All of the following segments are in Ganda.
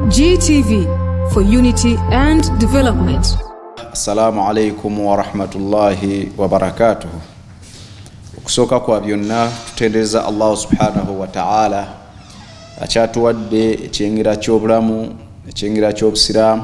GTV for unity and development. Assalamu alaikum warahmatullahi wabarakatuh. Okusooka kwa byonna tutendereza Allahu subhanahu wa ta'ala akyatuwadde ekyengera ky'obulamu ekyengera ky'obusiraamu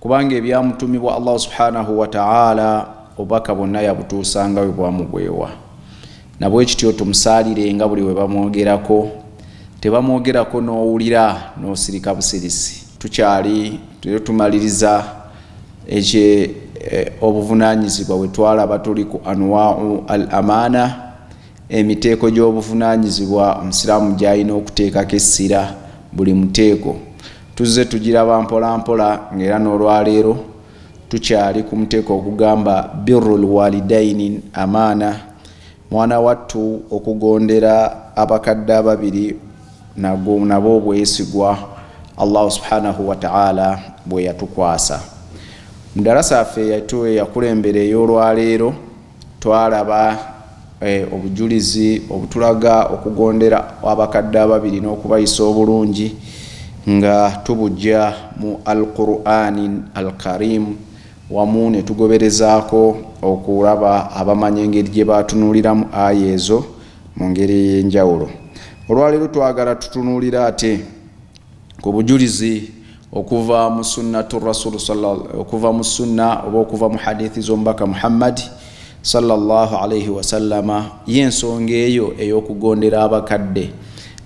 Kubanga ebyamutumibwa Allah subhanahu wa ta'ala obubaka bwonna yabutuusanga we bwamugwewa. Nabwekityo tumusaalirenga buli we bamwogerako, tebamwogerako n'owulira n'osirika busirisi. Tukyali era tumaliriza ekye eh, obuvunaanyizibwa bwe twalaba tuli ku anwau al amaana Emiteeko gy'obuvunaanyizibwa Omusiraamu gy'alina okuteekako essira, Buli muteeko tuzze tugiraba mpolampola ng'era n'olwaleero tukyali ku muteeko ogugamba Birrul Walidaini Amaana, Mwana wattu okugondera abakadde ababiri nagwo nabwo bwesigwa Allahu Subhaanahu wa Ta'aala bwe yatukwasa. Mu ddarasa yaffe eyakulembera ey'olwaleero, Twalaba obujulizi obutulaga okugondera abakadde ababiri n'okubayisa obulungi nga tubujja mu Al-Kur'aanin Al-Kariim wamu ne tugoberezaako okulaba abamanyi engeri gye baatunuuliramu aya ezo mu ngeri ey'enjawulo. Olwaleero twagala tutunuulire ate Ku bujulizi okuva mu Sunnatu Rasul okuva mu sunna oba okuva mu hadithi z'omubaka Muhammadi sallallahu alaihi wasallama ye ensonga eyo ey'okugondera abakadde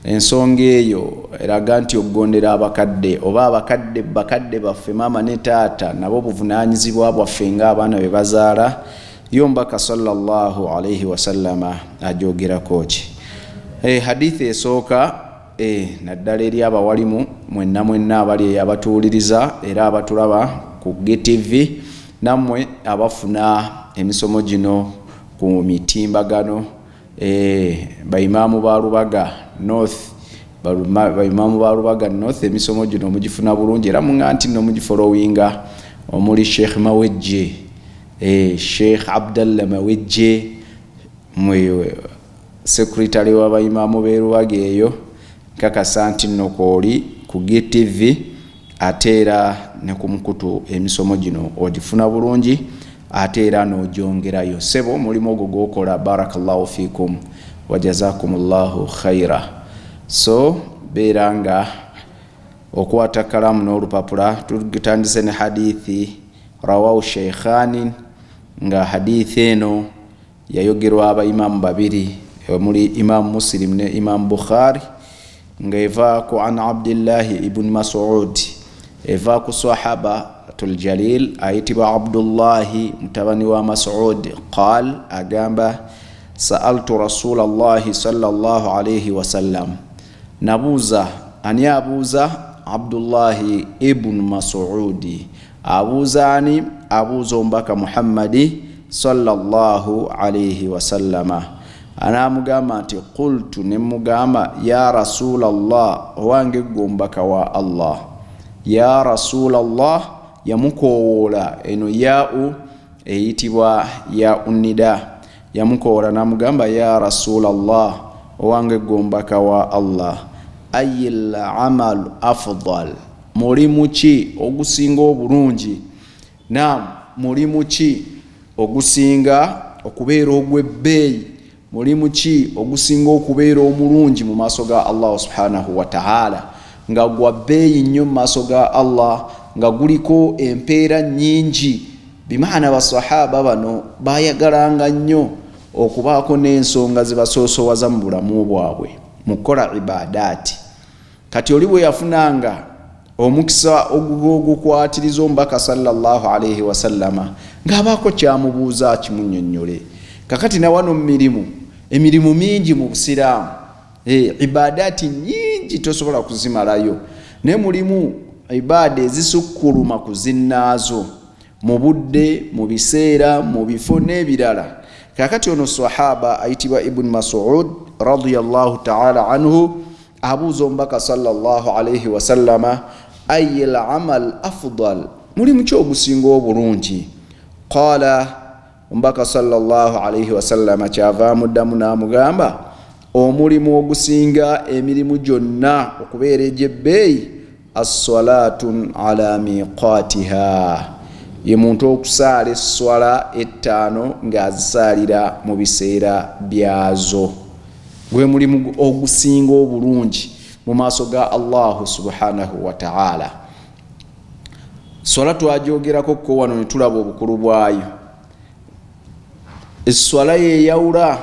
ensonga eyo eraga nti okugondera abakadde oba abakadde bakadde baffe maama ne taata nabo obuvunaanyizibwa bwaffe ng'abaana be bazaala yo mbaka sallallahu alaihi wasallama agyogerako ki eh, hadithi esooka E, naddala eri abawalimu mwenna mwenna abali eyo abatuwuliriza era abatulaba ku GTV, nammwe abafuna emisomo gino ku mitimbagano, e, Baimaamu ba Lubaga North, Baimaamu ba Lubaga North emisomo gino mugifuna bulungi era muŋa nti nno mugifolowinga omuli Sheikh Mawejje, e, Sheikh Abdallah Mawejje, mwe, Secretary wa bayimaamu b'e Lubaga eyo, nkakasa nti nno kw'oli ku GTV ate era ne ku mukutu emisomo gino ogifuna bulungi ate era n'ogyongerayo. Ssebo omulimu ogwo gw'okola Barakallahu fiikum wa Jazakumullahu khaira. So beera nga okwata kkalaamu n'olupapula. Tutandise ne Hadiithi Rawaahu Sheikhaanin nga Hadiithi eno, Yayogerwa aba Imaam babiri omuli Imaam Muslim ne Imaam Bukhaari nga eva ku an Abdillahi ibn Masuud eva ku Swahaba tul Jaliil ayitibwa Abdullahi mutabani wa Masuud qaal agamba, Sa'altu Rasuulallahi sallallahu alayhi wasallam, Nabuuza, Ani abuuza? Abdullahi Ibn Masuudi. Abuuza ani? Abuuza Omubaka Muhammadi, swalla Llaahu alaihi wasallama. N'amugamba nti, Qultu, ne mmugamba, Ya Rasuula Llah, owange ggwe Omubaka wa Allah. Ya Rasuula Llah, yamukoowoola, eno yaa'u eyitibwa yaa'u nida. Yamukoowola n'amugamba, Yaa Rasulallah, owange ggwe omubaka wa Allah, Ayyil amalu afudhal, mulimu ki ogusinga obulungi, naam, mulimu ki ogusinga okubeera ogw'ebbeeyi, mulimu ki ogusinga okubeera omulungi mu maaso ga Allahu subhanahu wa ta'ala, nga gwa bbeeyi nnyo mu maaso ga Allah, nga guliko empeera nnyingi. Bimaana Basswahaba bano baayagalanga nnyo okubaako n'ensonga ze basoosowaza mu bulamu bwabwe mu kukola Ibaadaati. Kati oli bwe yafunanga omukisa ogw'ogukwatiriza Omubaka sallallaahu alaihi wasallama ng'abaako ky'amubuuza akimunnyonnyole. Kakati na wano mu mirimu, emirimu mingi mu Busiraamu Eh, ibadaati nyingi tosobola kuzimalayo naye mulimu ibaada ezisukkuluma ku zinnaazo mu budde mu biseera mu bifo n'ebirala kakati ono sahaba ayitibwa ibuni masud radiallahu taala anhu abuuza omubaka salllah alaihi wasallama ayi lamal afdal mulimu ki ogusinga obulungi qala Omubaka sallallahu alaihi wasallama kyava amuddamu n'amugamba, omulimu ogusinga emirimu gyonna okubeera egy'ebbeeyi assalaatun ala miqaatiha, ye muntu okusaala esswala ettaano ng'azisaalira mu biseera byazo. Gwe mulimu ogusinga obulungi mu maaso ga Allahu subhanahu wataala. swala twagyogerako ko wano netulaba obukulu bwayo eswala yeyawula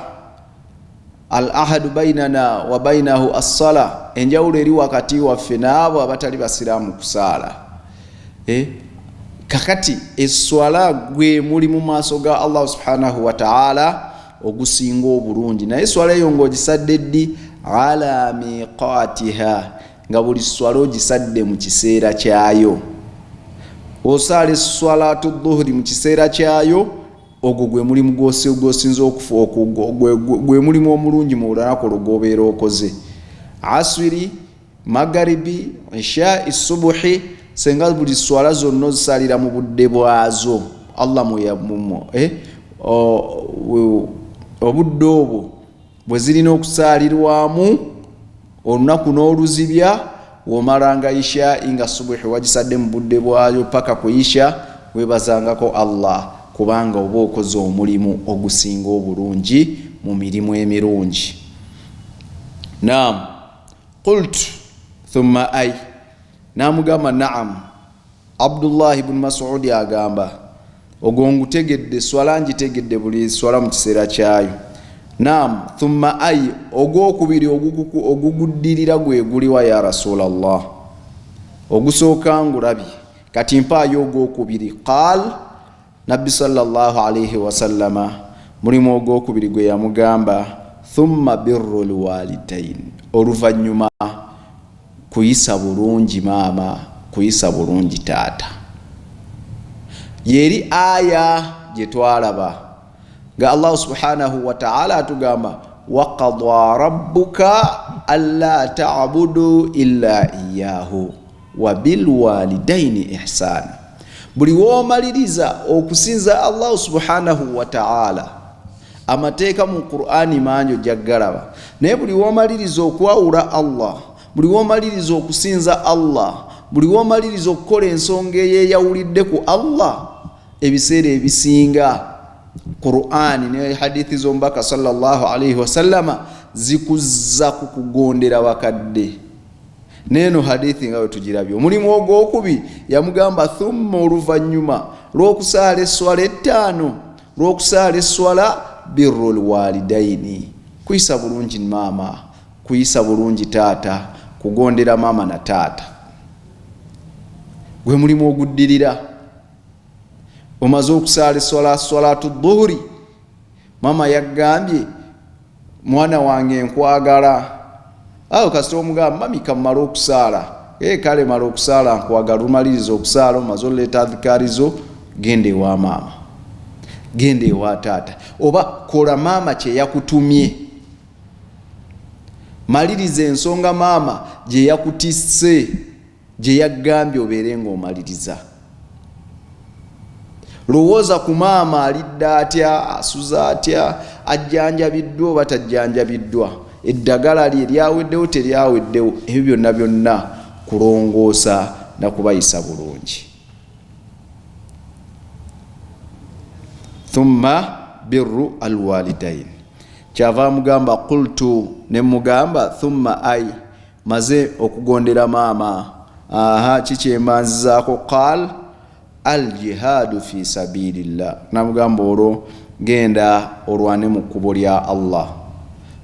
al ahadu bainana wa bainahu assala enjawulo eri wakati waffe naabo abatali basiraamu kusaala eh? kakati eswala gwe muli mu maaso ga allah subhanahu wataala ogusinga obulungi naye eswala eyo ngaogisadde ddi ala miqatiha Nga buli sswala ogisadde mu kiseera kyayo, osaala esswalaatu dhuhuri mu kiseera kyayo, ogwo gwe mulimu gwosinza okufu, gwe mulimu omulungi mu lunaku olwo gwobeera okoze. Aswiri, magaribi, ishai, subuhi, senga buli sswala zonna ozisaalira mu budde bwazo, Allah mweyamumu eh, obudde obwo bwe zirina okusaalirwamu. olunaku n'oluzibya womalanga ishai nga subuhi wagisadde mu budde bwayo paka ku isha webazangako Allah kubanga oba okoze omulimu ogusinga obulungi mu mirimu emirungi naam qultu thumma ai N'amugamba, Na'am, Abdullahi bun Masuudi agamba, ogwo ngutegedde, swala ngitegedde buli swala mu kiseera kyayo. Na'am, thumma ay, ogw'okubiri oguguddirira gwe guliwa ya Rasulallah? Ogusooka ngulabye, kati mpaayo ogw'okubiri. Qaal, Nabbi swalla Llaahu alaihi wasallama mulimu ogwokubiri gwe yamugamba, thumma birru lwalidain, oluvannyuma kuyisa bulungi maama, kuyisa bulungi taata. Yeri aya gye twalaba nga Allahu subhanahu wa ta'ala atugamba waqada rabbuka alla ta'budu illa iyyahu wabilwalidaini ihsaana buli woomaliriza okusinza allahu subhanahu wataala amateeka mu qurani mangi ojja kugalaba naye buli woomaliriza okwawula allah buli woomaliriza okusinza allah buli woomaliriza okukola ensonga eyeyawulidde ku allah ebiseera ebisinga qurani ne hadithi zomubaka sallallahu alaihi wasallama zikuzza ku kugondera bakadde neeno hadithi nga wetugirabye omulimu ogwokubi yamugamba thumma oluvannyuma lwokusaala esswala ettaano lwokusaala esswala birru lwalidaini kuyisa bulungi maama kuyisa bulungi taata kugondera maama na taata gwe mulimu oguddirira omaze okusaala eswala swalatu dhuhuri Maama yagambye mwana wange nkwagala awo kasita omugamba mami kamumala okusaala ee kale mala okusaala nkwagala lumaliriza okusaala omaze oleeta adhikaarizo genda ewa maama genda ewa taata oba kola maama kyeyakutumye maliriza ensonga maama gyeyakutisse gye yaggambye obeere ng'omaliriza lowooza ku maama alidde atya asuza atya ajjanjabiddwa oba tajjanjabiddwa eddagala lye lyaweddewo teryaweddewo ebyo byonna byonna kulongoosa na kubayisa bulungi thumma birru alwalidaini kyava mugamba qultu ne mugamba thumma ai Maze okugondera maama aahaa ki kyembanzizaako qaal al jihaadu fii sabiilillah namugamba olwo genda olwane mu kkubo lya Allah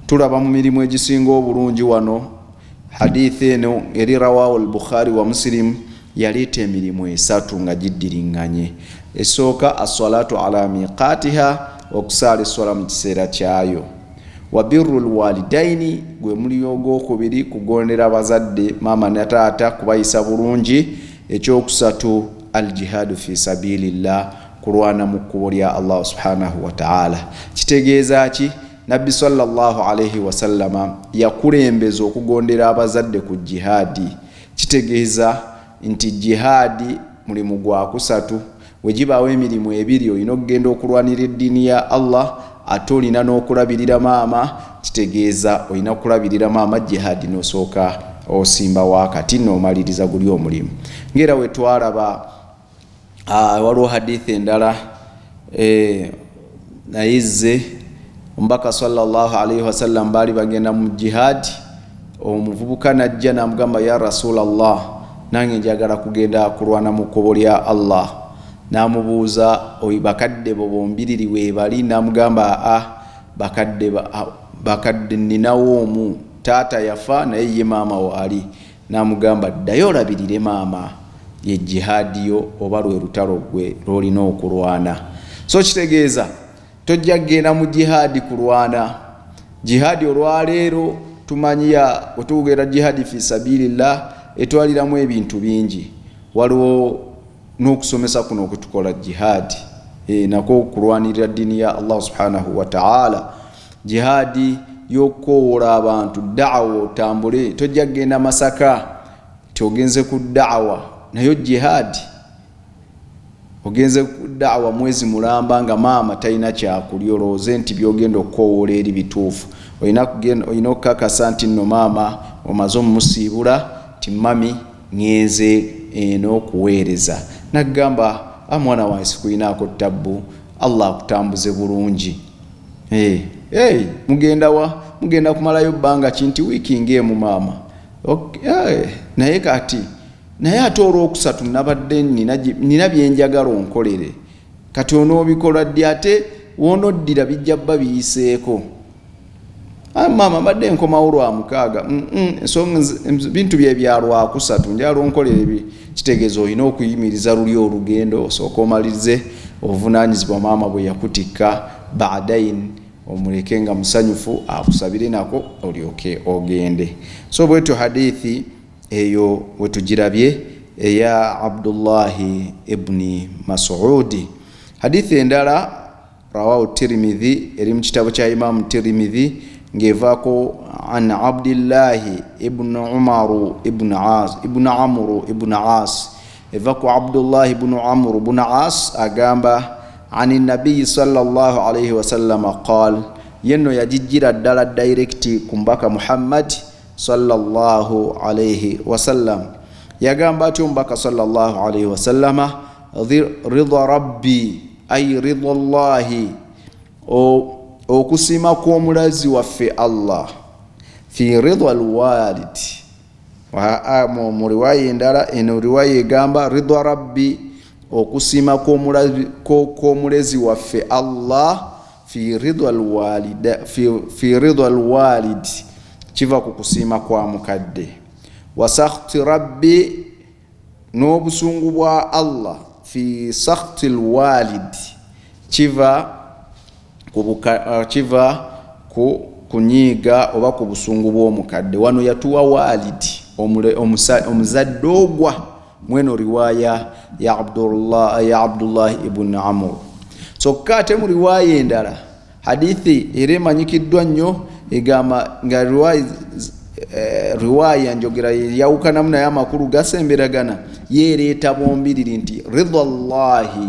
tulaba mu mirimu egisinga obulungi wano hadiith eno eri rawaahu al bukhaari wa musilimu yaleeta emirimu esatu nga giddiringanye esooka assalaatu ala miqaatiha okusaala esswala mu kiseera kyayo Wabirru lwalidaini gwe mulimu ogwokubiri kugondera bazadde maama ne taata kubayisa bulungi, ekyokusatu aljihadu fi sabilillah kulwana mu kkubo lya Allah subhanahu wataala. Kitegeeza ki? Nabbi swalla Llahu alaihi wasallama yakulembeza okugondera abazadde ku jihaadi. Kitegeeza nti jihaadi. Mulimu gwa kusatu. Bwe gibaawo emirimu ebiri, olina okugenda okulwanira eddiini ya Allah, ate olina n'okulabirira maama, kitegeeza olina okulabirira maama, Jihaadi, n'osooka osimbawo akati n'omaliriza guli omulimu. Ng'era bwe twalaba, waliwo Hadiith endala, naye zze omubaka salllah alaihi wasallam baali bagenda mu jihaadi omuvubuka najja namugamba ya rasula llah nange njagala kugenda kulwana mu kkubo lya allah namubuuza oyo bakadde bo bombiriri webali namugamba aa bakadde bakadde ninawo omu taata yafa naye ye maama waali N'amugamba, Ddayo olabirire maama. Ye Jihaadi yo oba lwe lutalo ggwe lw'olina okulwana. So kitegeeza tojja kugenda mu Jihaadi kulwana. Jihaadi olwaleero tumanyi ya, bwe tugera Jihaadi fi sabiilillah, etwaliramu ebintu bingi. Waliwo N'okusomesa kuno okutukola jihaadi e, nakwo okulwanirira ddiini ya Allah subhanahu wa ta'ala, jihaadi y'okukowoola abantu da'awa otambule, tojja kugenda Masaka nti ogenze ku da'awa nayo jihaadi ogenze daawa mwezi mulamba nga maama talina kyakulya olowooze nti byogenda okukowoola eri bituufu olina okukakasa nti nno maama omaze omumusiibula nti mami Ŋŋenze eno kuweereza. N'agamba, A mwana wange sikulinaako ttabbu. Allah akutambuze bulungi. Hee, Hey, mugenda wa? Mugenda kumalayo bbanga ki? Nti, Wiiki nga emu, maama. Ok, Hey, Naye kati, naye ate Olwokusatu nnabadde nnina, nnina bye njagala onkolere. Kati onoobikola ddi? Ate w'onoddira bijja bba biyiseeko. Ayi maama mbadde nkomawo lwa mukaaga mm, mm, ensonga bintu bye bya lwakusatu njala onkolera ebi kitegeeza olina okuyimiriza luli olugendo osooka omalirize obuvunaanyizibwa maama bwe yakutikka badain omuleke nga musanyufu akusabire nako olyoke ogende so bwetyo hadithi eyo wetugirabye eya abdullahi ibuni masuudi hadithi endala rawahu tirimidhi eri mu kitabo kya imaamu tirimidhi ng'evaako an abdillahi ibnu umaru ibnu as ibnu amuru ibnu as eva ku abdullahi bunu amuru bunu as agamba ani nabiyi salllah alaihi wasallama qal yenno yagijjira ddala dairekiti ku mubaka muhammadi salllah alaihi wasallam yagamba atya omubaka salllah alaihi wasallama ridha rabbi ai rida llahi okusiima kw'omulazi waffe allah fi rida lwalid mu riwaya endala eno riwaya egamba rida rabbi okusiima kw'omulezi waffe allah fi rida lwalid kiva ku kusiima kwa mukadde wasakhti rabbi N'obusungu bwa Allah, fi sakhti lwaalid, kiva ku buka, uh, kiva ku kunyiiga oba ku busungu bw'omukadde. Wano yatuwa waalid, omuzadde ogwa mweno riwaaya ya Abdullah, ya Abdullah ibn Amur. Kyokka ate mu riwaaya endala Hadithi era emanyikiddwa nnyo egamba nga eh, riwaaya njogera yeyawukanamu naye amakulu gasemberagana yeereeta bombiriri nti ridha llahi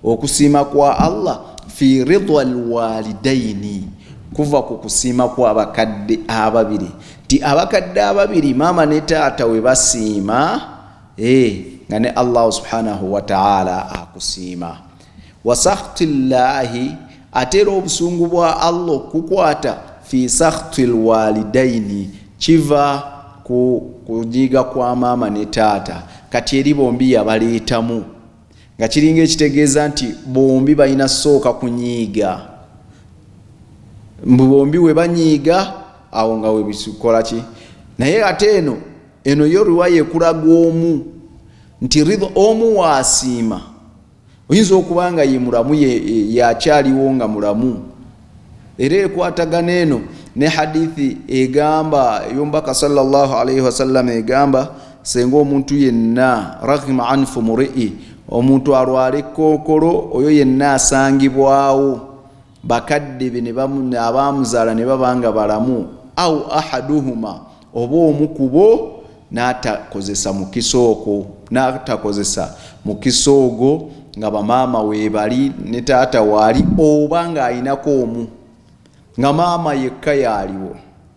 okusiima kwa allah fi ridha lwalidaini kuva ku kusiima kwabakadde ababiri nti abakadde ababiri maama ne taata we basiima eh, nga ne allahu subhanahu wataala akusiima wasakhti llahi ate era obusungu bwa allah okukukwata fi sakhti lwalidaini kiva ku kunyiiga kwa maama ne taata kati eri bombi yabaleetamu nga kiringa ekitegeeza nti bombi balina sooka kunyiiga mbu bombi we banyiiga awo nga webikola ki naye ate eno eno yo riwaya ekulaga omu nti ridha omu waasiima oyinza okuba nga ye mulamu yakyaliwo nga mulamu era ekwatagana eno ne hadithi egamba eyomubaka salllah alaihi wasallama egamba senga omuntu yenna rahima anfu murii omuntu alwale kookolo oyo yenna asangibwawo bakadde be abaamuzaala ne baba nga balamu au ahaduhuma oba omu kubo n'atakozesa mukisa okwo n'atakozesa mukisa ogwo nga bamaama weebali ne taata waali oba ng'alinako omu nga maama yekka yaaliwo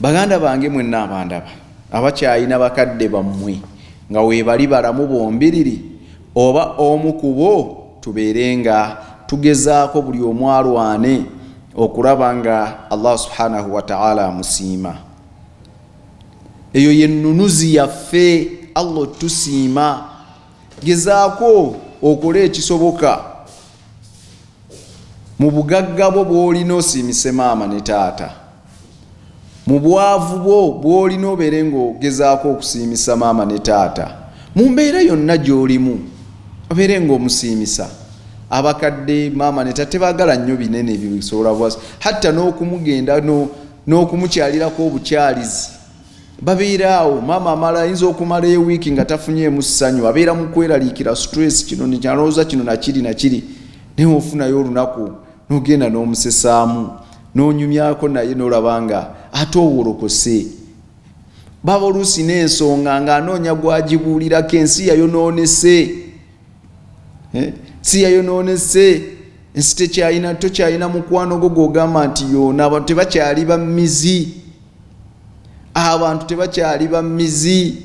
Baganda bange mwenna abandaba, abakyalina bakadde bammwe nga weebali balamu bombiriri oba omu ku bo, tubeere nga tugezaako buli omu alwane okulaba nga Allah Subhaanahu wa Ta'aala amusiima. Eyo ye nnunuzi yaffe, Allah otusiima. Gezaako okole ekisoboka. mu bugagga bwo bw'olina osiimise maama ne taata mu bwavu bwo bw'olina obeere ng'ogezaako okusiimisa maama ne taata mu mbeera yonna gy'olimu obeere ng'omusiimisa abakadde maama ne taata tebaagala nnyo binene bisobola bwasi hatta n'okumugenda n'okumukyalirako obukyalizi babeera awo maama amala ayinza okumala ewiiki nga tafunyeemu ssanyu abeera mu kweraliikira stress kino nikyalowooza kino nakiri nakiri naye ofunayo olunaku nogenda n'omusesaamu nonyumyako naye nolaba nga ate owolokose baba oluusi n'ensonga ng'anoonya gwagibuulirako ensi yayonoonese eh? si yayonoonese ensi tekyalina tokyalina mukwano gwo gwogamba nti yoona abantu tebakyali bamizi abantu tebakyali ba mizi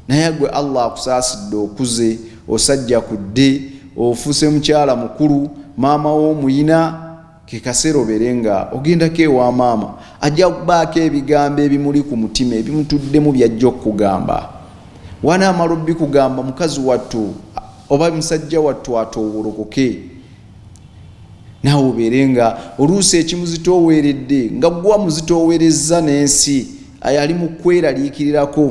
naye gwe allah akusaasidde okuze osajja kudde ofuuse mukyala mukulu maama womuyina kekaseera obeere nga ogendako ewa maama ajja kubaako ebigambo ebimuli ku mutima ebimutuddemu byajja okukugamba wanaamala obbikugamba mukazi wattu oba musajja wattu atoowolokoke naawe obeere nga oluusi ekimuzitooweredde nga gwa muzitoowerezza n'ensi ayo ali mu kweraliikirirako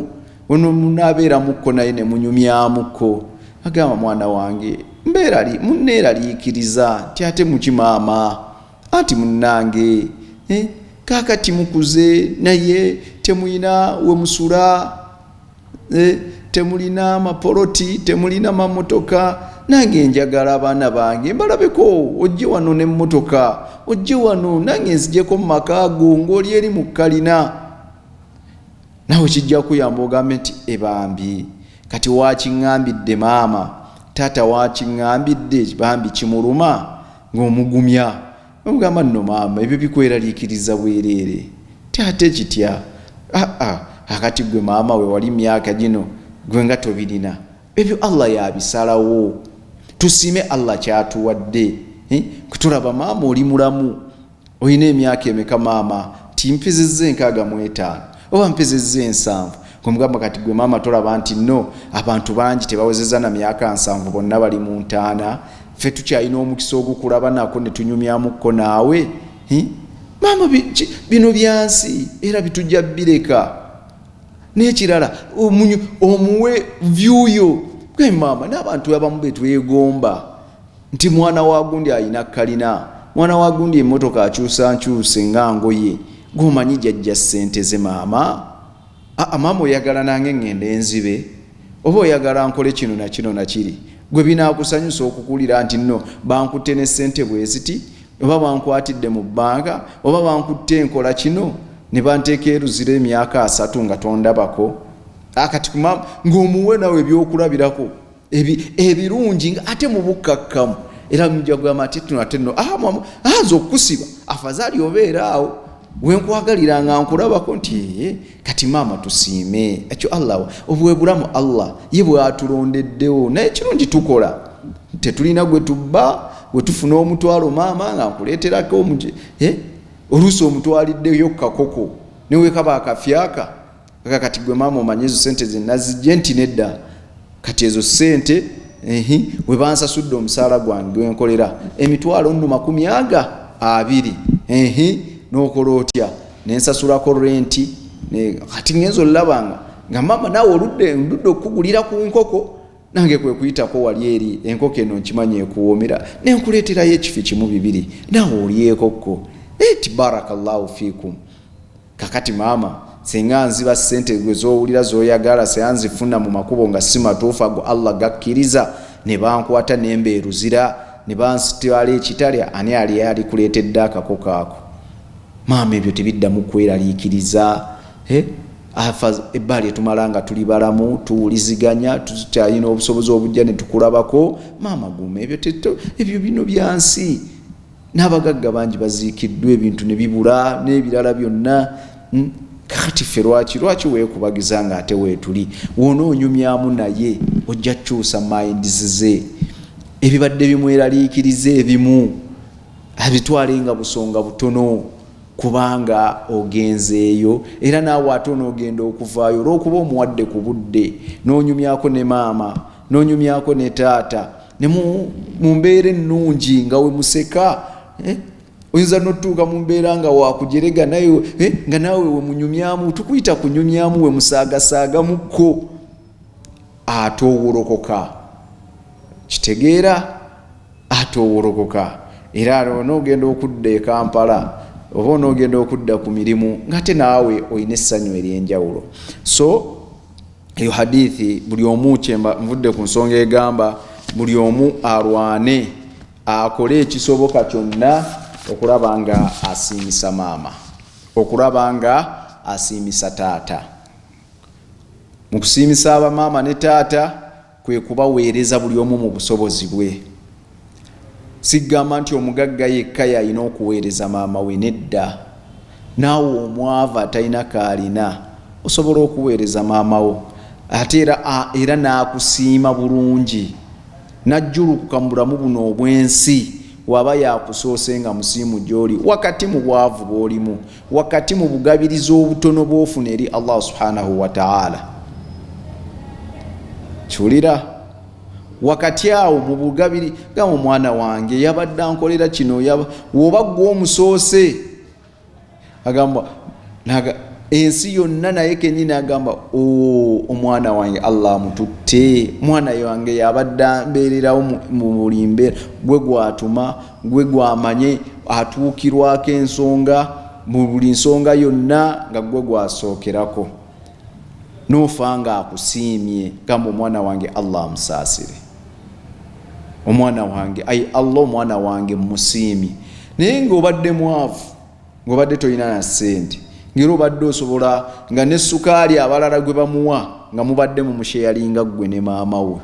ono munaabeeramukko naye ne munyumyamukko agamba mwana wange mbeerali munneeraliikiriza nti ate muki maama anti munnange eh, kaakati mukuze naye temuyina we musula Eh, temulina amapoloti temulina mamotoka nange njagala abaana bange mbalabeko ojje wano nemotoka ojje wano nange nzijeko mumaka go ngaoli eri mukalina nawe kijja kuyamba ogambe nti ebambi kati wakiŋambidde maama taata wakiŋambidde bambi kimuluma ngaomugumya ogamba nno maama ebyo bikweraliikiriza bwereere ti ate kitya aa akati gwe maama we wali myaka gino gwe nga tobirina ebyo allah yabisalawo tusiime allah kyatuwadde eh, kutulaba maama oli mulamu olina emyaka emeka maama ti mpiziza enkaaga mu etaano oba mpezezza ensanvu kwemugamba kati gwe maama tolaba nti no abantu bangi tebawezeza na myaka nsanvu bonna bali mu ntaana ffe tukyalina omukisa ogukulaba nako netunyumyamuko naawe maama bino byansi era bitujja bireka nekirala omuwe vyuyo gwe maama n'abantu abamu betwegomba nti mwana wa gundi alina kalina mwana wa gundi emotoka akyusa nkyuse nga ngoye gomanyi jajja sente ze maama aa maama oyagala nange ngende enzibe oba oyagala nkole kino nakino nakiri gwe binakusanyusa okukulira nti no bankutte ne sente bweziti oba bankwatidde mu bbanga oba bankutte enkola kino ne banteeka eruzira emyaka asatu nga tondabako akati kuma ngaomuwe nawe ebyokulabirako ebirungi nga ate mu bukkakkamu era mujja kugamba ati tuno ate no ah, ah, nze okukusiba afazaali obeera awo wenkwagalira nga nkulabako nti eh, kati maama tusiime ekyo allah obwebulamu allah ye bwatulondeddewo naye kirungi tukola tetulina gwe tubba wetufuna omutwalo maama nga nkuleeterako omuj eh, oluusi omutwaliddeyo kakoko newekaba akafyaka kaka kati gwe maama omanye ezo sente zenazijje nti nedda kati ezo sente ehi webansasudde omusaala gwange gwenkolera emitwalo nno makumi aga abiri ehi nokola otya nensasulako renti kati ngenza olulabanga nga maama nawe oludde ndudde okukugulira ku nkoko nange kwekuyitako wali eri enkoko eno nkimanya ekuwoomera nenkuleeterayo ekifi kimu bibiri nawe olyekokko eti barakallahu fikum Kakati mama singa nziba sente gwe zowulira zoyagala sea nzifuna mu makubo nga si matuufu ago Allah gakkiriza ne bankwata ne mbeeruzira ne bansitwala ekitale ani ali yalikuleetedde akakoko ako maama ebyo tebiddamu kweraliikiriza eh? afa ebbali etumala nga tuli balamu tuwuliziganya tukyalina obusobozi obujja netukulabako maama guma ebyo ebyo bino byansi n'abagagga bangi baziikiddwa ebintu ne bibula n'ebirala byonna hmm? kakati ffe lwaki lwaki weekubagiza nga ate weetuli wona onyumyamu naye ojja kukyusa mayindizi ze ebibadde bimweraliikiriza ebimu abitwale nga busonga butono kubanga ogenzeeyo era naawe ate onoogenda okuvaayo olw'okuba omuwadde ku budde n'onyumyako ne maama n'onyumyako ne taata ne mu mbeera ennungi nga we museka eh? oyinza notuuka mu mbeera nga wakujerega naye eh? nga naawe wemunyumyamu tukuyita kunyumyamu wemusaagasaagamuko ate owolokoka kitegeera ate owolokoka era onoogenda okudda e kampala oba onoogenda okudda ku mirimu ngaate naawe olina essanyu ery'enjawulo so eyo hadithi buli omu kyemba nvudde ku nsonga egamba buli omu alwane akole ekisoboka kyonna okulaba nga asiimisa maama okulaba nga asiimisa taata mu kusiimisa abamaama ne taata Kwe kubaweereza buli omu mu busobozi bwe. Siggamba nti omugagga yekka y'alina okuweereza maama we, nedda. Naawe omwavu atalina k'alina osobola okuweereza maama wo ate era era n'akusiima bulungi n'ajjulukuka mu bulamu buno obw'ensi w'aba yakusoose nga musiimu gy'oli wakati mu bwavu bw'olimu wakati mu bugabiriza obutono bwofuna eri allah subhanahu wataala kiwulira wakati awo mu bugabiri gamba omwana wange yabadde ankolera kino woba gwe omusoose agamba ensi yonna naye kenyini agamba omwana wange allah amututte mwana wange yabadde ambeererawo mu buli mbeera gwe gwatuma Gwe gw'amanyi atuukirwako ensonga mu buli nsonga yonna nga gwe gw'asookerako n'ofa nga akusiimye gamba omwana wange Allah amusaasire omwana wange ayi Allah omwana wange mmusiimye naye ng'obadde mwavu ng'obadde tolina na ssente ngera obadde osobola nga ne sukaali abalala gwe bamuwa nga mubadde mu musheyalinga ggwe ne maama we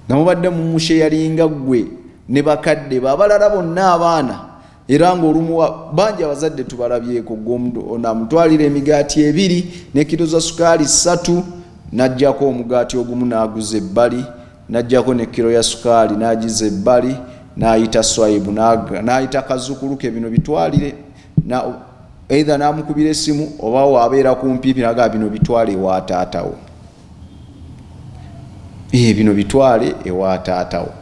nga mubadde mu musheyalinga ggwe ne bakadde be abalala bonna abaana era ng'olumu bangi abazadde tubalabyeko gweonamutwalira emigaati ebiri nekiro za sukaali ssatu n'ajjako omugaati ogumu n'aguza ebbali N'aggyako ne kkiro ya sukaali n'agizza ebbali, n'ayita Swaibu n'ayita kazzukulu ke, bino bitwalire na eitha n'amukubira essimu oba waabeera kumpipi nagaa bino bitwale ewa taatawo ee eh, bino bitwale ewa taatawo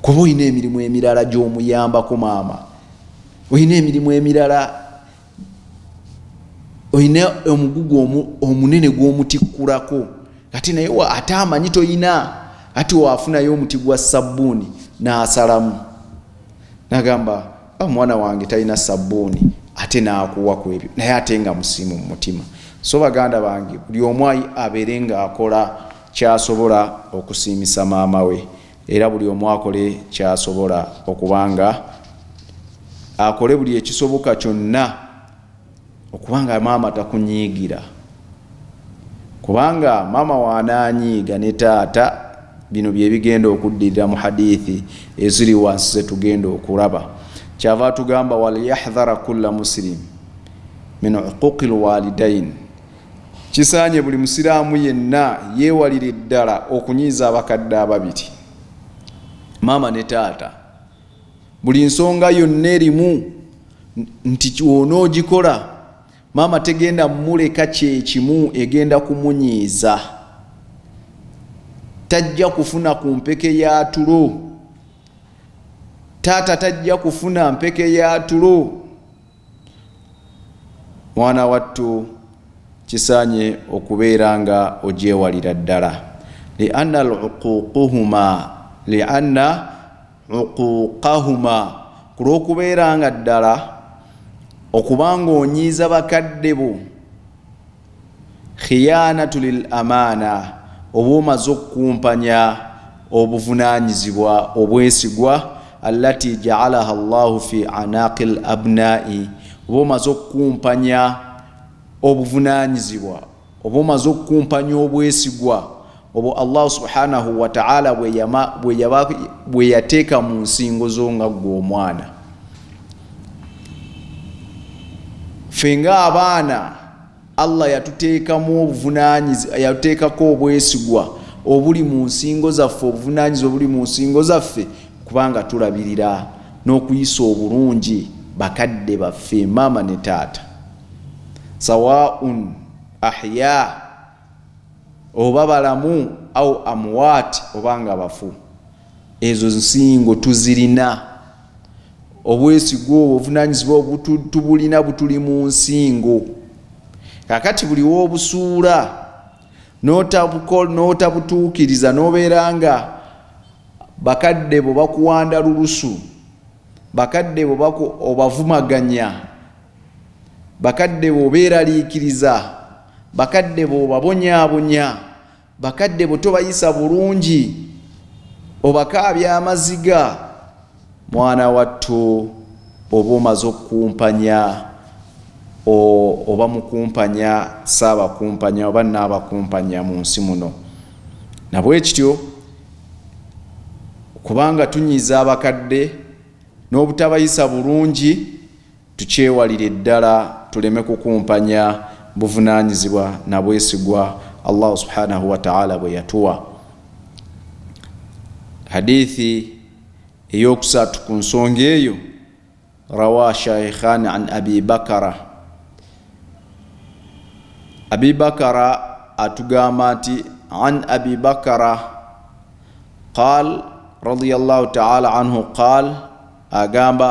kuba olina emirimu emirala gy'omuyambako maama olina emirimu emirala olina omugugu omunene gw'omutikkulako kati naye ate amanyi tolina ati wafunayo omuti gwa sabbuuni n'asalamu nagamba omwana ah, wange talina sabbuuni ate n'akuwa ku ebyo naye ate nga musimu mu mutima so baganda bange buli omu abeere ng'akola kyasobola okusiimisa maama we Era buli omu akole kyasobola okuba nga akole buli ekisoboka kyonna okuba nga maama takunyiigira kubanga maama waanaanyiiga ne taata bino byebigenda okuddirira mu hadithi eziri wansi zetugenda okulaba kyava atugamba walyahdhara kulla musilimu min uquqi lwalidaini Kisaanye buli Musiraamu yenna yeewalire ddala okunyiiza abakadde ababiri, maama ne taata, buli nsonga yonna erimu nti onoogikola maama tegenda muleka kyekimu egenda kumunyiiza, tajja kufuna ku mpeke ya tulo, taata tajja kufuna mpeke ya tulo. mwana wattu kisaanye okubeera nga ogyewalira ddala lianna luququhuma lianna uquqahuma ku lw'okubeera nga ddala okuba nga onyiiza bakadde bo Khiyaanatu lil amaana, oba omaze okukumpanya obuvunaanyizibwa, obwesigwa, allati ja'alaha Allahu fi anaaqil abnaa'i, oba omaze okukumpanya obuvunaanyizibwa, oba omaze okukumpanya obwesigwa, Obwo Allah subhanahu wa ta'ala bwe yateeka mu nsingo zo nga ggwe omwana. Ffe ng'abaana Allah yatuteekamu obuvunaanyizibwa, yatuteekako obwesigwa obuli mu nsingo zaffe, obuvunaanyizibwa obuli mu nsingo zaffe kubanga tulabirira n'okuyisa obulungi bakadde baffe maama ne taata. Sawaa'un ahyaa. oba balamu au amuwaati oba nga bafu ezo nsingo tuzirina obwesigwa obwo obuvunanyizibwa tubulina butuli mu nsingo kakati buli wobusuula notabutuukiriza nobeera nga bakadde bo bakuwanda lulusu bakadde bo obavumaganya bakadde bo obeeraliikiriza bakadde bo obabonyaabonya bakadde bo tobayisa bulungi obakaabya amaziga mwana wattu oba omaze okukumpanya oba mukumpanya saabakumpanya oba naabakumpanya mu nsi muno nabwe kityo kubanga tunyiza abakadde n'obutabayisa bulungi Tukyewalire ddala tuleme kukumpanya buvunaanyizibwa na bwesigwa Allahu subhanahu wa ta'ala bwe yatuwa. Hadithi ey'okusatu ku nsonga eyo rawa shaikhan an abi bakara abi bakara atugamba nti an abi bakara qal radiallahu taala anhu qal agamba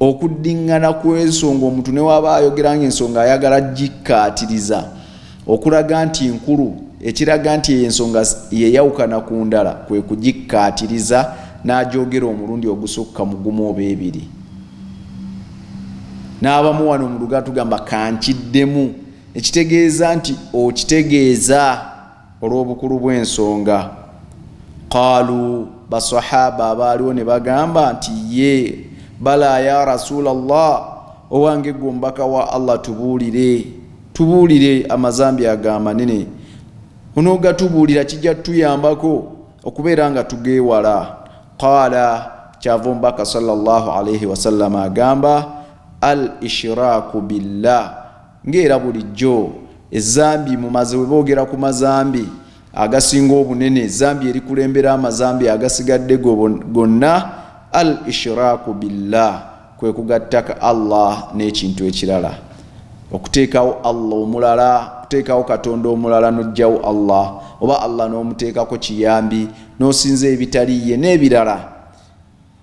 Okuddingana kw'ensonga omuntu ne waba ayogera ng'ensonga ayagala gikkaatiriza okulaga nti nkulu, ekiraga nti eyo ensonga yeyawukana ku ndala kwe kugikkaatiriza n'agyogera omulundi ogusukka mu gumu oba ebiri. N'abamu wano mu Luganda tugamba ka nkiddemu, ekitegeeza nti okitegeeza. Olw'obukulu bw'ensonga, qaalu, Basswahaba abaaliwo ne bagamba nti, Yee, balaa yaa Rasulallah, Owange ggwe Omubaka wa Allah tubuulire, tubuulire, amazambi ago amanene onoogatubuulira kijja kutuyambako okubeera nga tugeewala. Qaala, kyava Omubaka sallallaahu alaihi wasallama agamba, Al-ishiraaku billah. Nga era bulijjo ezzambi mu maze bwe boogera ku mazambi agasinga obunene, ezzambi erikulembera amazambi agasigadde go gonna, Al ishiraaku billah, kwe kugattaka Allah n'ekintu ekirala, okuteekawo Allah omulala, okuteekawo Katonda omulala n'oggyawo Allah, oba Allah n'omuteekako kiyambi, n'osinza ebitali Ye, n'ebirala.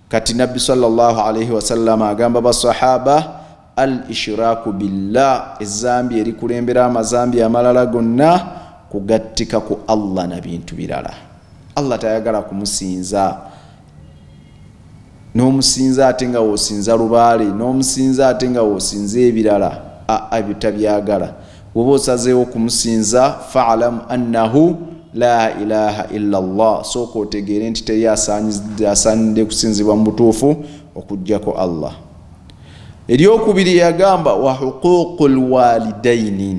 Kati Nabbi swalla Llaahu alaihi wasallama agamba Basswahaba, Al ishiraaku billah, ezzambi erikulembera amazambi amalala gonna, kugattika ku Allah na bintu birala. Allah tayagala kumusinza n'omusinza ate nga w'osinza lubaale, n'omusinza ate nga w'osinza ebirala, a a tabyagala. Woba osazeewo okumusinza fa'lam annahu laa ilaaha illa llah, sooka otegeere nti teri asaanidde kusinzibwa mu butuufu okuggyako Allah. Eryokubiri yagamba wa huquuqu lwalidaini,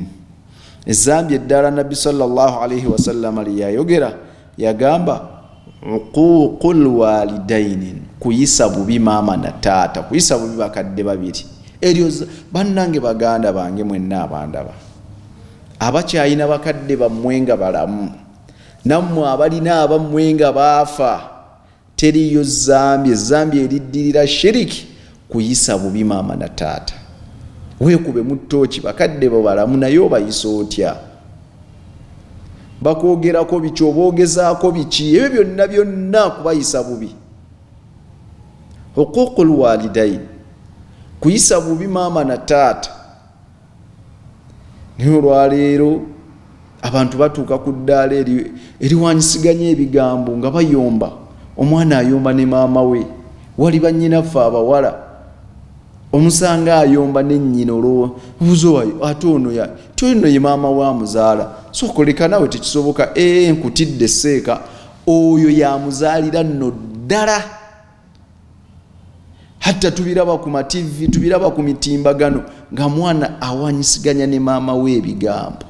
ezzambi eddala Nabbi sallallahu alaihi wasallama lye yayogera Yagamba uquuqul walidainin kuyisa bubi maama na taata kuyisa bubi bakadde babiri eryo bannange baganda bange mwenna abandaba abakyayina bakadde bammwe nga balamu nammwe abalina abammwe nga baafa Teriyo zambi ezambi eriddirira shiriki kuyisa bubi maama na taata. Weekubemu ttooci bakadde bo balamu naye obayisa otya? Bakwogerako biki oba ogezaako biki? Ebyo byonna byonna kubayisa bubi. Huquuqul walidaini kuyisa bubi maama na taata. naye olwaleero abantu batuuka ku ddaala eriwanyisiganya ebigambo nga bayomba omwana ayomba ne maama we wali bannyinaffe abawala omusanga ayomba nennyina olwowa obuzowayo ate ono ya ti ono ye maama wa muzaala sokoleka nawe tekisoboka ee nkutidde seeka oyo yamuzaalira nno ddala hatta tubiraba ku mativi tubiraba ku mitimbagano nga mwana awanyisiganya ne maama we ebigambo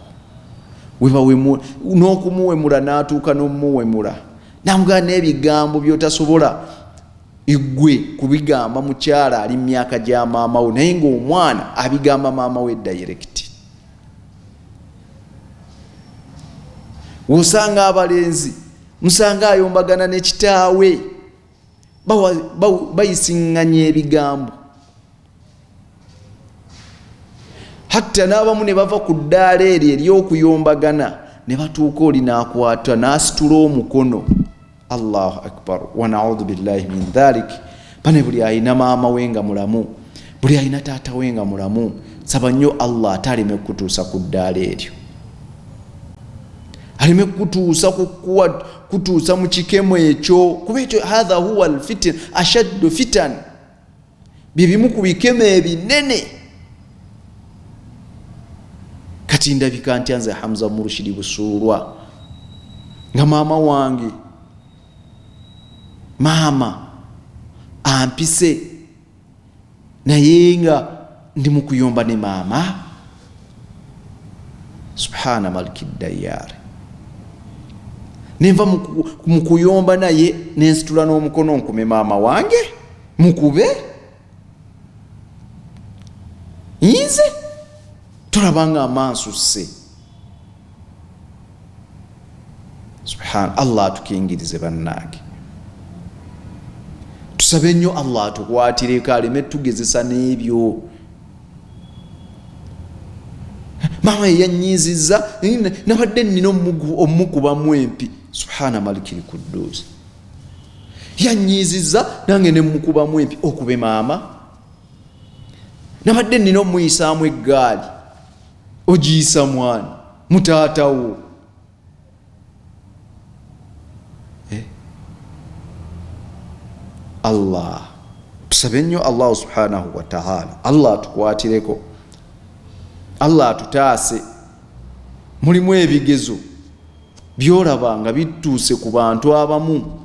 n'okumuwemula n'atuuka n'omumuwemula namugaa n'ebigambo byotasobola igwe kubigamba mukyala ali mu myaka gya maama we naye ngaomwana abigamba maama we dayirekiti wosanga abalenzi musanga ayombagana ne kitaawe bayisiŋŋanya ebigambo hatta n'abamu ne bava ku ddaala eryo ery'okuyombagana ne batuuka oli n'akwata n'asitula omukono allahu akbar wanaudhu billahi min dhalik bane buli alina maama we nga mulamu buli alina taata we nga mulamu saba nnyo allah ate aleme kukutuusa ku ddaala eryo aleme kukutuusa kukuwa kutuusa mu kikemo ekyo kuba ekyo hatha huwa lfitin ashaddu fitan byebimu ku bikemo ebinene kati ndabika ntya nze hamza murushidi busuulwa nga maama wange maama ampise naye nga ndi mukuyomba ne maama subhana maliki dayaari nenva mukuyomba naye nensitula n'omukono nkume maama wange mukube yinze tolabanga amansusse Subhan Allah atukingirize bannange, tusabe nnyo Allah atukwatireko aleme tugezesa n'ebyo maama yeyanyiizizza nabadde nina omukubamu empi subhana malikiri kudduuzi yanyiizizza nange nemukubamu empi okube maama nabadde nina omuyisaamu eggaali ogiyisa mwani mutaatawo eh? allah tusabe nnyo allahu subhanahu wataala allah atukwatireko allah atutaase mulimu ebigezo byolaba nga bituuse ku bantu abamu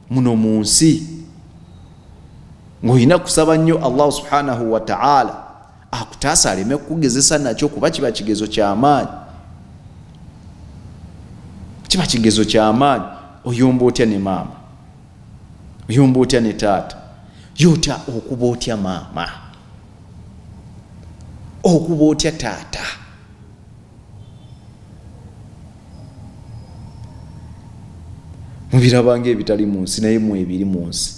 muno mu nsi ng'olina kusaba nnyo allahu subhanahu wataala akutaasa aleme kukugezesa nakyo kuba kiba kigezo kyamaanyi kiba kigezo kyamaanyi oyomba otya ne maama oyomba otya ne taata ye otya okuba otya maama okuba otya taata mubirabanga ebitali mu nsi naye mu ebiri mu nsi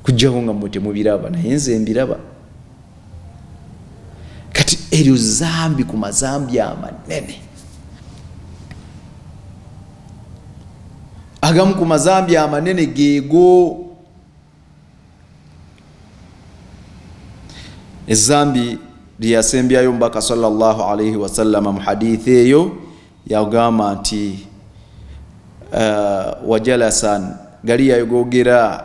kujjaho nga mwe temubiraba naye nze mbiraba kati eryo zambi ku mazambi amanene agamu ku mazambi amanene geego ezambi lyeyasembyayo omubaka salllah alaihi wasallama mu hadithi eyo yagamba nti uh, wajalasan galiyayo gogera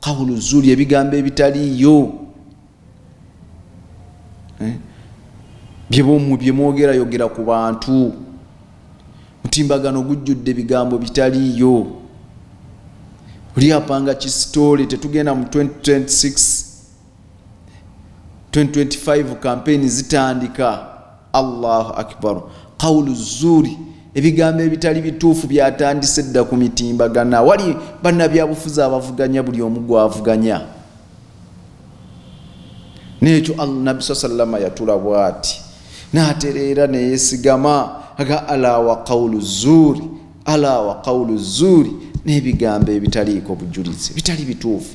kawulu zuli ebigambo ebitaliiyo eh? byebomwe byemwogerayogera ku bantu mutimbagano gujjudde ebigambo bitaliiyo oli apanga kisitoole tetugenda mu 2026 2025 kampeyini zitandika allahu akbar qawulu zuuri ebigambo ebitali bituufu byatandise dda ku mitimbagana wali bannabyabufuzi abavuganya buli omu gwavuganya nekyo nabbi saa sallama yatula bwati natereera neyesigama aga ala wa qawulu zuuri ala wa qawulu zuuri n'ebigambo ebitaliiko bujulizi bitali bituufu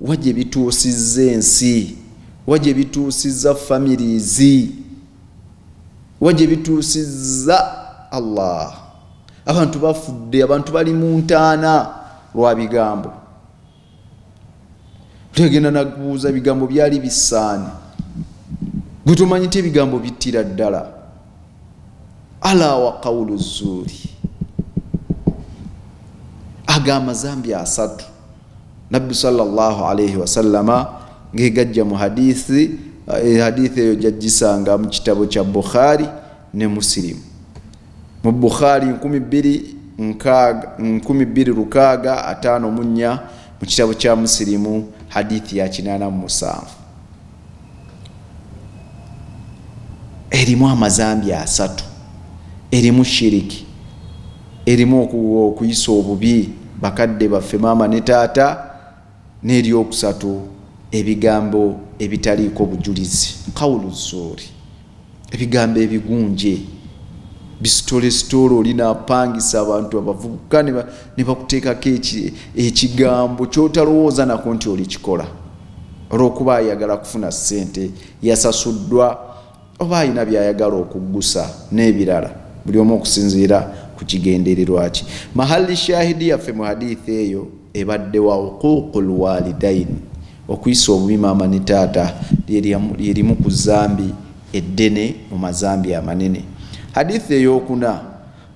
Wa gye bituusizza ensi? Wa gye bituusizza families? Wa gye bituusizza Allah? Abantu bafudde, abantu bali mu ntaana lwa bigambo. Tegenda nakubuuza bigambo byali bisaani. Gwe tomanyi nti ebigambo bittira ddala. Ala wa qawulu zuuri. Ago amazambi asatu. nabbi salllah alaihi wasallama ngegajja mu hadithi eh, hadithi eyo jajjisanga mu kitabo kya bukhari ne musilimu mu bukhari 256 mu kitabo kya musilimu hadithi ya 87 erimu amazambi asatu erimu shiriki erimu okuyisa obubi bakadde baffe maama ne taata n'eryokusatu ebigambo ebitaliiko bujulizi kawulu zuuri ebigambo ebigunje bisitolesitoole oli napangisa abantu abavubuka ne bakuteekako ekigambo kyotalowooza nako nti olikikola olwokuba ayagala kufuna ssente yasasuddwa oba alina byayagala okuggusa n'ebirala buli omu okusinziira ku kigendererwa kye mahali shahidi yaffe mu hadithi eyo Ebadde wa Huquuqul Waalidaini, Okuyisa obubi maama ne taata lye limu ku zambi eddene mu mazambi amanene. Hadiith ey'okuna,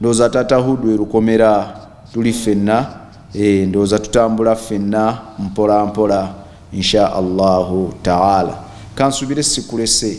Ndowooza taata Huud lwe lukomera, tuli ffenna, eeh, ndowooza tutambula ffenna mpola mpola, Insha Allahu Taala. Kansuubire sikulese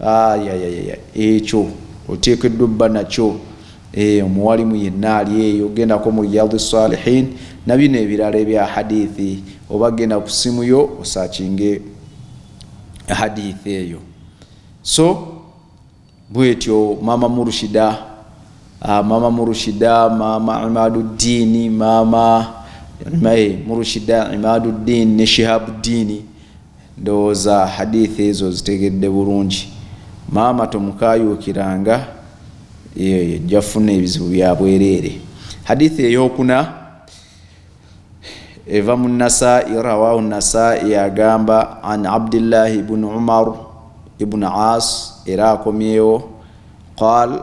Aayayayaya ekyo oteekeddwa obba nakyo. Eeh omuwalimu yenna ali eyo gendako mu Riyadhu Salihin nabino ebirala ebya hadithi oba genda ku simu yo osakinge hadithi eyo. So bwetyo maama Murushida, ah, maama Murushida, maama Imaduddini, maama Murushida, Imaduddini ne Shihabuddini. Ndowooza Hadiith ezo ozitegedde bulungi. Maama tomukaayuukiranga, eyo ejja funa ebizibu bya bwereere. Hadiith eyokuna eva mu Nasaa'i, Rawaahu Nasaa'i, agamba an Abdillahi ibn Umar ibn Aas, era akomyewo, qaal,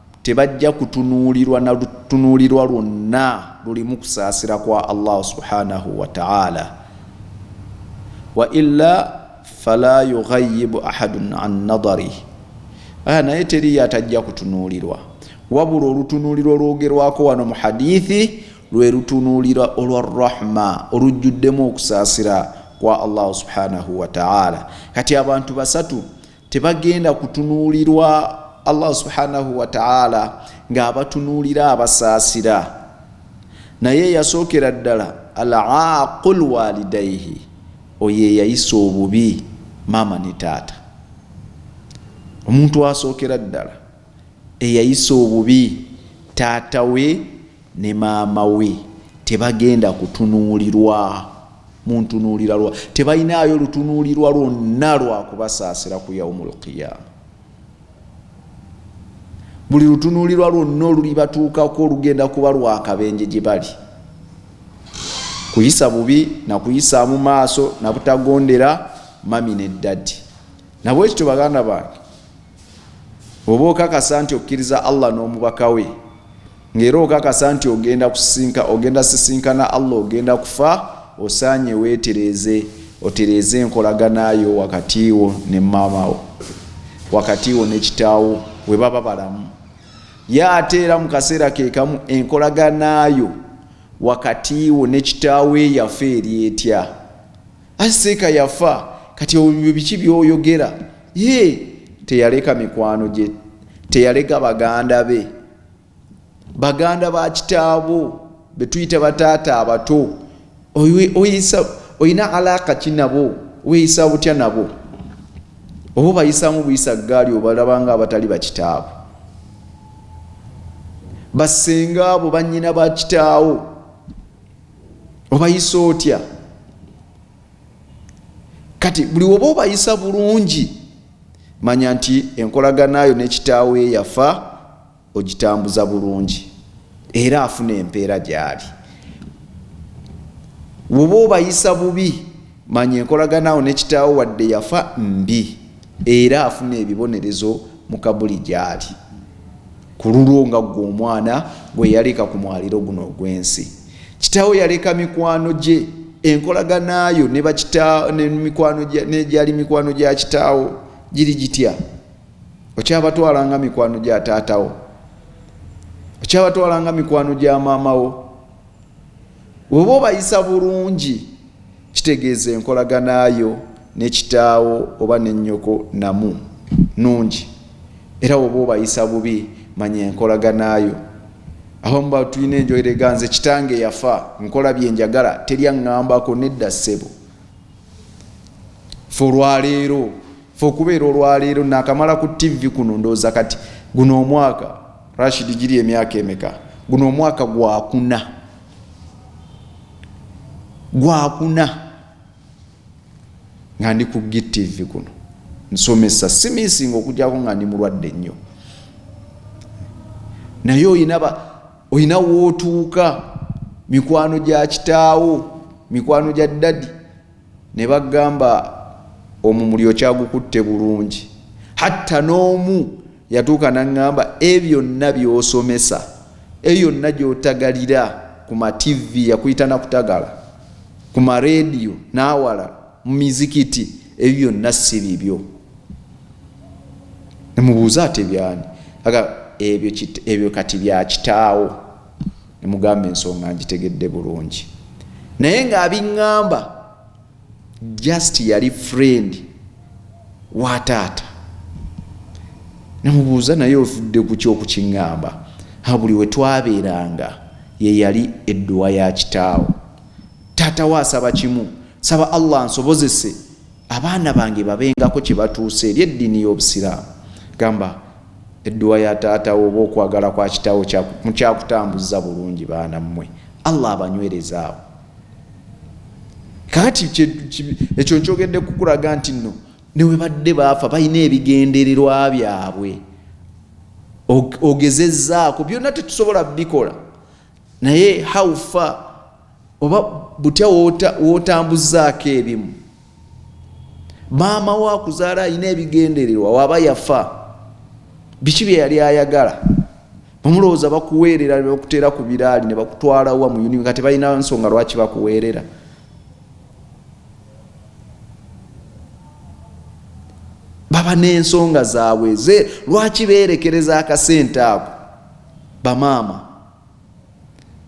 tebajja kutunuulirwa na lutunuulirwa lwonna lulimu kusaasira kwa Allahu subhanahu wa ta'ala wa illa fala yughayyibu ahadun an nadari aya naye teriyo atajja kutunuulirwa wabula olutunuulirwa olwogerwako wano mu hadithi lwe lutunuulira olwa rahma olujjuddemu okusaasira kwa allahu subhanahu wataala kati abantu basatu tebagenda kutunuulirwa allah subhanahu wataala ng'abatunuulira abasaasira naye yasookera ddala alaaqu lwalidaihi oyo eyayisa obubi maama ne taata omuntu asookera ddala eyayisa obubi taata we ne maama we tebagenda kutunuulirwa mu ntunuulira lwa tebalinaayo lutunuulirwa lwonna lwa kubasaasira ku yaumul qiyaama buli lutunuulirwa lwonna olulibatuukako olugenda kuba lwakabenje gye bali kuyisa bubi nakuyisaamu maaso nabutagondera mami ne ddadi nabwekityo baganda bange oba okakasa nti okkiriza allah n'omubaka we ngaera okakasa nti ogenda kusinka ogenda sisinkana allah ogenda kufa osaanye weetereeze otereeze enkolaganayo wakati wo ne maamawo wakati wo nekitaawo we baba balamu ye ate era mu kaseera kekamu enkolaganayo wakati wo nekitaawo eyafa eri etya aseeka yafa kati ebyo biki byoyogera ye teyaleka mikwano gye teyaleka baganda be baganda ba kitaabo betuyita bataata abato olina alaaka ki nabo weyisa butya nabo oba obayisamu buyisa gaali obalabanga abatali bakitaabo basenga abo banyina bakitaawo obayisa otya kati buli woba obayisa bulungi manya nti enkolaganayo nekitaawo eyafa ogitambuza bulungi era afuna empeera gyali woba obayisa bubi manya enkolaganawo nekitaawo wadde yafa mbi era afuna ebibonerezo mukabuli gyali Ku lulwo nga ggwe omwana gwe yaleka ku mwaliro guno ogw'ensi, kitaawo yaleka mikwano gye, enkolagana yo ne bakitaawo ne mikwano gya n'egyali mikwano gya kitaawo giri gitya? Okyabatwala nga mikwano gya taatawo? Okyabatwala nga mikwano gya maamawo? Bw'oba obayisa bulungi kitegeeza enkolagana yo ne kitaawo oba ne nnyoko namu nnungi era bw'oba obayisa bubi manya enkolagana yo abamu batulina enjoerega nze kitange yafa nkola bye njagala teri aŋŋambako nedda ssebo fe olwaleero fe okubeera olwaleero naakamala ku ttivi kuno ndowooza kati guno omwaka Rashid giri emyaka emeka guno omwaka gwakuna gwakuna nga ndi ku gtv kuno nsomesa simisinga okujako nga ndi mulwadde nnyo naye olina wootuuka mikwano gya kitaawo mikwano gya ddadi ne bagamba omumuli okyagukutte bulungi hatta n'omu yatuuka naŋŋamba e byonna by'osomesa e yonna gy'otagalira ku mativi yakuyita nakutagala ku mareediyo n'awala mu mizikiti ebyo byonna si bibyo nemubuuza ate byani aga ebyo kati bya kitaawo Ne mugamba ensonga njitegedde bulungi naye nga abingamba just yali friend wa taata. Namubuuza naye ofudde ku ky'okukingamba ha buli we twabeeranga ye yali edduwa ya kitaawo. Taata we asaba kimu, saba Allah ansobozese abaana bange babengako kye batuusa eri eddiini y'Obusiraamu. Gamba. Edduwa ya taata wo oba okwagala kwa kitawo mukyakutambuzza bulungi baana mmwe Allah abanywereze awo kaati ekyo nkyogedde kukulaga nti nno newebadde baafa balina ebigendererwa byabwe ogezezzaako byonna tetusobola bikola naye how far oba butya wotambuzaako ebimu maama wo akuzaala alina ebigendererwa waba yafa biki bye yali ayagala bamulowooza bakuweerera nebakuteera ku biraali nebakutwalawa mu union nga tebalina nsonga lwaki bakuweerera baba n'ensonga zaabwe ze lwaki beerekereza akasente ako bamaama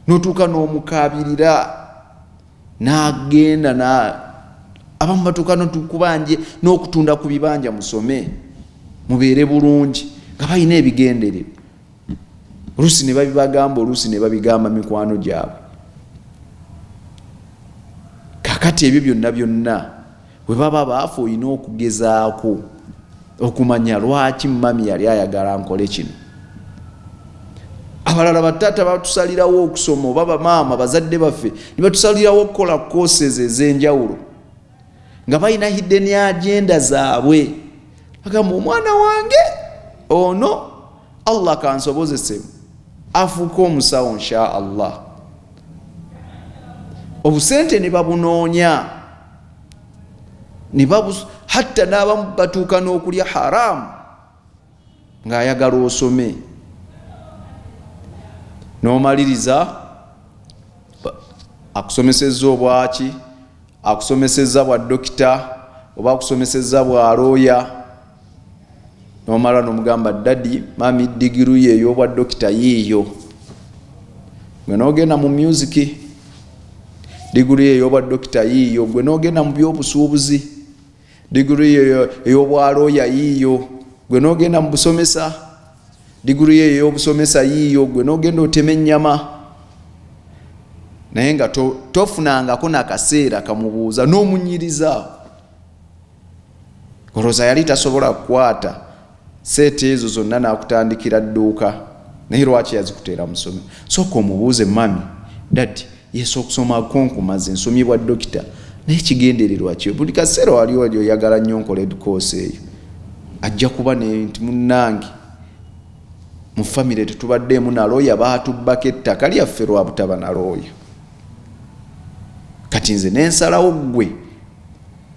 notuuka n'omukaabirira n'agenda na abamu batuuka notukubanje n'okutunda ku bibanja musome mubeere bulungi nga balina ebigendererwa oluusi ne babibagamba oluusi ne babigamba mikwano gyabwe kakati ebyo byonna byonna Bwe baba baafa olina okugezaako okumanya lwaki mami yali ayagala nkole kino. Abalala bataata batusalirawo okusoma oba bamaama bazadde baffe ne batusalirawo okukola courses ez'enjawulo nga balina hidden agenda zaabwe agamba omwana wange ono Allah kansobozese afuuka omusawo nsha Allah obusente ne babunoonya hatta n'abamu batuuka n'okulya haramu ng'ayagala osome n'omaliriza akusomesezza obwaki akusomesezza bwa dokita oba akusomesezza bwa looya nomala nomugamba dadi mami digiru ye eyobwa dokita yiiyo gwe nogenda mu musiki diguru ye eyobwa dokita yiiyo gwe nogenda mu byobusuubuzi diguru ye eyobwaloya yiiyo gwe nogenda mu busomesa diguru ye eyobusomesa yiiyo gwe nogenda otema ennyama naye nga tofunangako nakaseera kamubuuza nomunyiriza olowooza yali tasobola kukwata seeta ezo zonna n'akutandikira dduuka naye lwaki yazikuteera musomi sooka omubuuze mami dadi yesu okusoma konkumaze nsomye bwa dokita naye kigendererwa kyo buli kaseera wali wali oyagala nnyo nkola edukoosi eyo ajja kuba nti munnange mu famire tetubaddeemu nalooya baatubbako ettaka lyaffe lwa butaba nalooya kati nze nensalawo ggwe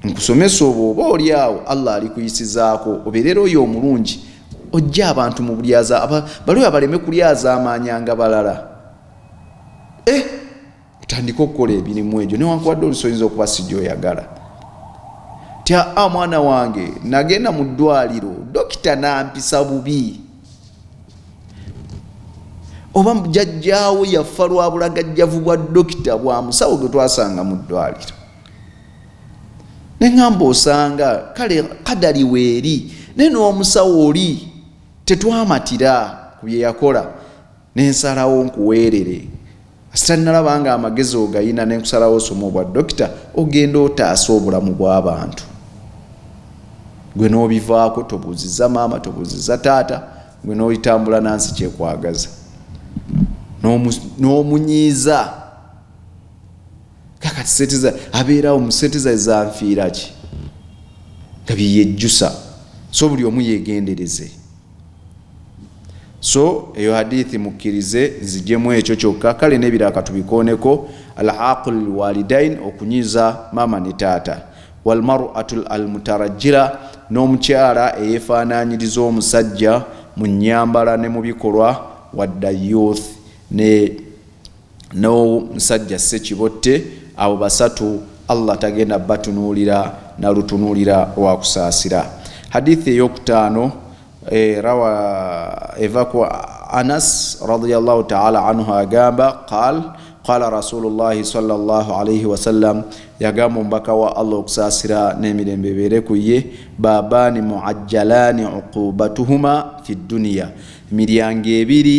nkusomesa obwo oba oli awo allah alikuyisizaako obeerera oyo omulungi ojja abantu mu bulyaza baliwo abaleme kulyazaamaanyanga balala e otandike okukola ebirimu egyo newankubadde olusoyinza okuba si gyoyagala tya a ah, mwana wange nagenda mu ddwaliro dokita nampisa bubi oba jajjaawo yafa lwa bulagajjavu bwa dokita bwa musawo gwe twasanga mu ddwaliro neŋamba osanga kale kadali weeri naye n'omusawo oli tetwamatira ku bye yakola nensalawo nkuweerere sitannalaba nga amagezi ogayina nenkusalawo osoma obwa dokita ogenda otaasa obulamu bw'abantu gwe n'obivaako tobuuziza maama tobuuziza taata gwe n'oyitambula nansi kyekwagaza n'omunyiiza no kakati sente za abeerawo mu sente za zanfiira ki nga byeyejjusa so buli omu yegendereze so eyo hadithi mukkirize nzijemu ekyo kyokka kale nebira katubikooneko al aqul lwalidain okunyiza maama ne taata walmaratu almutarajira n'omukyala eyefaananyiriza omusajja mu nyambala ne mu bikolwa wadda youth ne Now musajja ssekibotte abo basatu Allah tagenda batunuulira na lutunuulira lwa kusaasira. Hadithi ey'okutaano e, rawa eva ku Anas radiyallahu ta'ala anhu agamba qaal qaala rasulullahi sallallahu alaihi wasallam yagamba omubaka wa Allah okusaasira n'emirembe ebeere ku ye baabaani muajjalaani uqubatuhuma fi dduniya miryango ebiri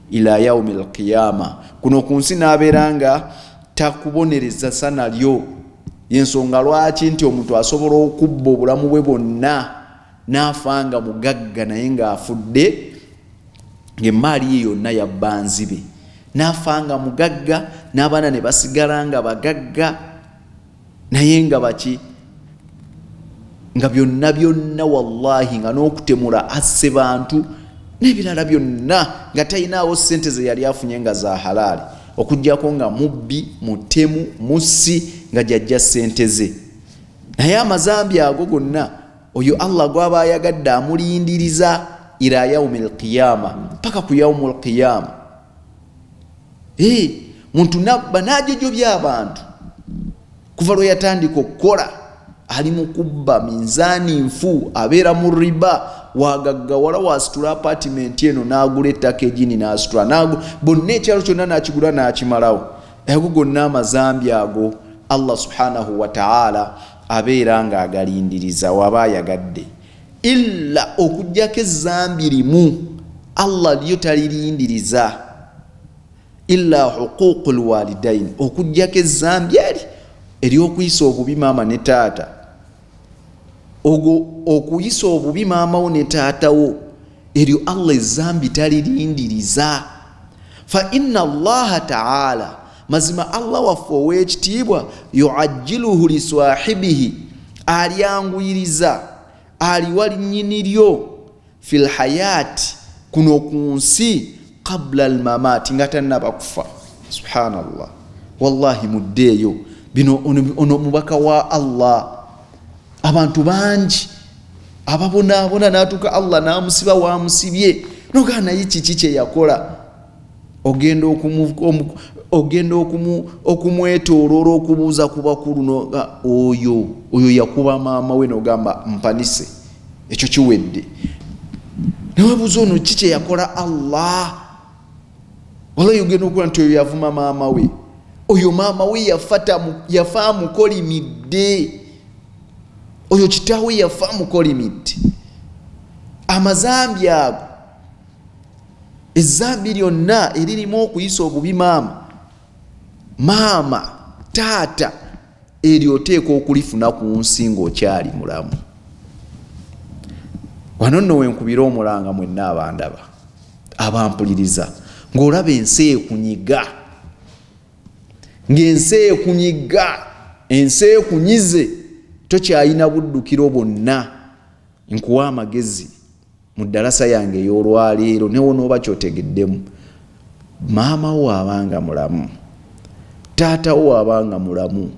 ila yaumi lqiyama kuno ku nsi n'abeera nga takubonereza sana lyo yensonga lwaki nti omuntu asobola okubba obulamu bwe bwonna n'afa nga mugagga naye ng'afudde ng'emmaali ye yonna yabbanzibe n'afa nga mugagga n'abaana ne basigala nga bagagga naye nga baki nga byonna byonna wallahi nga n'okutemula asse bantu n'ebirala byonna nga talinaawo ssente ze yali afunye nga za halaali okugyako nga mubbi mutemu mussi nga gyajja ssente ze naye amazambi ago gonna oyo allah gwaba ayagadde amulindiriza ila yaumi lqiyama paka ku yaumu lqiyama Hey, eh, muntu nabba najojobya abantu kuva lwe yatandika okukola ali mu kubba minzaani nfu abeera mu riba wagaggawala wasitula apatimenti eno n'agula ettaka egini n'asitula bonna ekyalo kyonna n'akigula n'akimalawo ago gonna amazambi ago allah subhanahu wataala abeera ng'agalindiriza waba ayagadde illa okujjako ezambi limu allah lyo talirindiriza illa huququ lwalidaini okujjako ezambi eri eryokuyisa obubi maama ne taata ogwo okuyisa obubi maamawo ne taatawo eryo allah ezambi talirindiriza fa ina allaha taala mazima allah waffe ow'ekitiibwa yuajjiluhu liswahibihi alyanguyiriza aliwa linyini lyo fi lhayaati kuno ku nsi qabula almamaati nga tannaba kufa subhanallah wallahi muddeeyo bino ono mubaka wa allah abantu bangi ababonaabona natuuka allah namusiba wamusibye nogaa naye kiki kyeyakola ogenda ogenda okumwetooloola okubuuza ku bakulu oyo oyo yakuba maama we nogamba mpanise ekyo kiwedde newebuuza ono ki kyeyakola allah walayi ogenda okuba nti oyo yavuma maama we oyo maama we yafa amukolimidde oyo kitaawe yafa amukolimidde amazambi ago Ezzambi lyonna eririmu okuyisa obubi maama maama taata eryo oteeka okulifuna ku nsi ng'okyali mulamu wano nno wenkubira omulanga mwenna abandaba abampuliriza ng'olaba ensi ekunyiga ng'ensi ekunyiga ensi ekunyize tokyayina buddukiro bwonna nkuwa amagezi Mu ddalasa yange ey'olwaleero newonooba kyotegeddemu, maama wo abanga mulamu, taata wo abanga mulamu,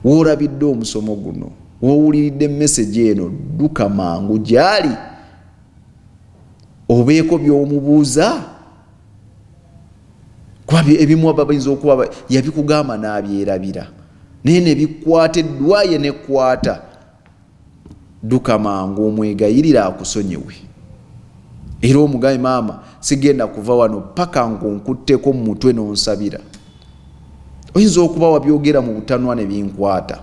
woolabidde omusomo guno, wowuliridde message eno, dduka mangu gyali obeeko byomubuuza kuba ebimu bayinza okuba yabikugamba n'abyerabira naye nebikwata eddwaye nekwata Dduka mangu omwegayirire akusonyiwe era omugambe, Maama, sigenda kuva wano paka ng'onkutteko mu mutwe n'onsabira. Oyinza okuba wabyogera mu butanwa ne binkwata.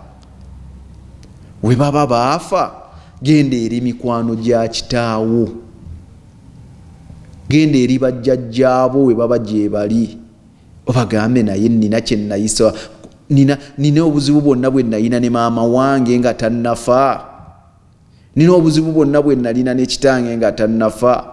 We baba baafa, genda eri mikwano gya kitaawo, genda eri bajjajjaabo we baba gyebali. obagambe naye nina kyenayisa nina nina obuzibu bwonna bwe nalina ne maama wange nga tannafa nina obuzibu bwonna bwe nalina ne kitange nga tannafa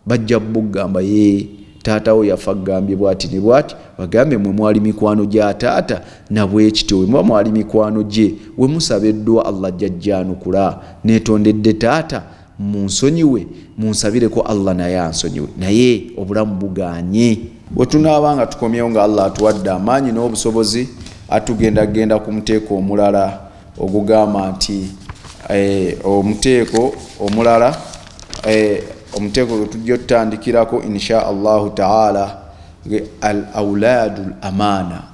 bajja bugamba ye taatawo yafa gambye bwati ne bwati bagambe mwe mwali mikwano gya taata nabwekityo wemuba mwali mikwano gye wemusaba eddwa allah jajjanukula netondedde taata Munsonyiwe munsabireko Allah naye ansonyiwe naye obulamu buganye. Wetunaaba nga tukomyewo nga Allah atuwadde amaanyi n'obusobozi atugenda genda ku muteeko omulala ogugamba nti eh, omuteeko omulala eh, omuteeko gwe tujja otutandikirako insha Allahu taala al aulaadu l amaana